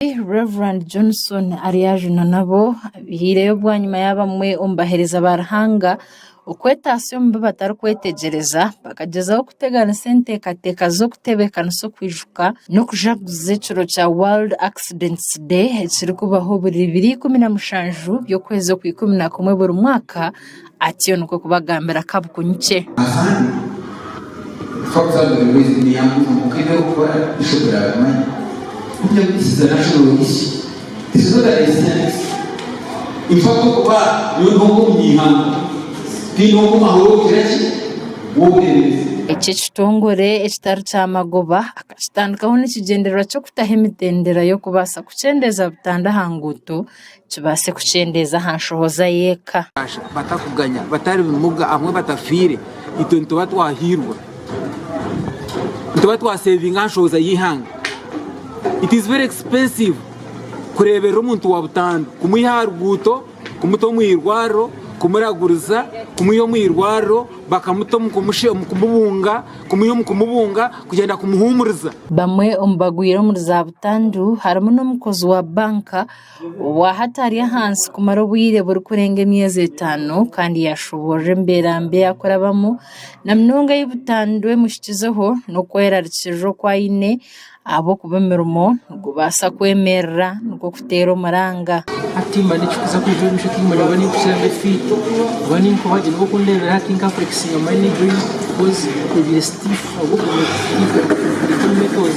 Omwegi Rev. Johnson aryajuna nabo abihaireyo bwanyima y'abamwe omu bahereza ba Ruhanga okwetaatsya omu bi batarikwetegyereza bakagyezaho kuteganisa enteekateeka z'okutebeekanisa okwijuka n'okujaguza ekiro kya World Accidents Day ekirikubaho buri biro ikumi na mushanju by'okwezi okwa ikumi na kumwe buri mwaka Atyo nikwo kubagambira kabukunyikye. Eki ekitongore ekitari kya magoba akakitandikaho n'ekigyendererwa ky'okutaho emitendera y'okubaasa kukyendeeza butandwa aha nguuto, Kibaase kukyendeeza aha nshohoza y'eka. Batakuganya, batari bimuga, abamwe batafiire, itwe nituba twahairwe. Nituba twaseevinga aha nshohoza y'eihanga. It is very expensive kureeberera omuntu wa butandu, kumwiha aha ruguuto, kumuta omu irwariro, kumuraguriza, kumwiha omu irwariro bakamuta omu kumubunga, kumwiha omu kumubunga, kugyenda kumuhuumuriza. Bamwe omu bagwire omuri za butandu harimu n'omukozi wa banka. Waaha ataari ahansi kumara obwire burikurenga emyezi etaano kandi yaashoboorora embeera mbi ei arikurabamu, na munonga ei butandwa emuhikizeho, n'okwerarikirira oku aine ahabw'okuba omurimo nigubaasa kwemerera nikwo kuteera omuranga. Hati mba nikikuza kwija omu maisho tihiine oraba naimpikira defeat oba nainkubagira oba kundeebera hati nka flexiinga my knee joint coz ebyire stiff ahabw'okugira defeat metals.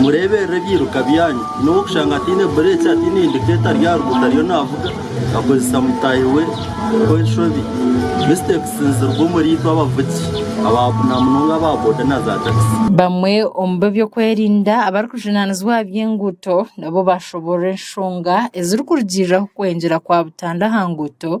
Mureeberere ebyiruka byanyu. N'ou orikushanga ataine bureeki, ataine indikeeta ari aha ruguuto ariyo naavuga akozesa mutaahi we ow'enshobi. Mistakes niziruga omuri itwe abavugi aba na munonga aba boda na za takisi. Bamwe omu b'ebyokwerinda abarikujunaanizibwa aha by'enguuto nabo baashoboorora enshonga ezirikurugiiriraho kwengyera kwa butanda aha nguuto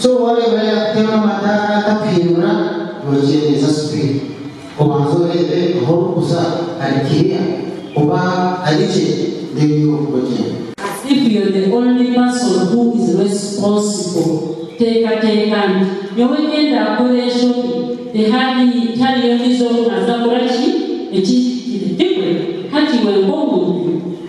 So waareeba yaakutema amadaara akakuhinyura noogyendeza sipidi. Obanza oreebe ahu orikuza hari kiriya oba hari gye then you move ogyende. As if you're the only person who is responsible teekateeka nti nyowe ngenda kukora enshobi tihari tihariyo ondiijo ou naaza kukora ki ekihikire. Tikwe? Hati iwe nk'omuntu.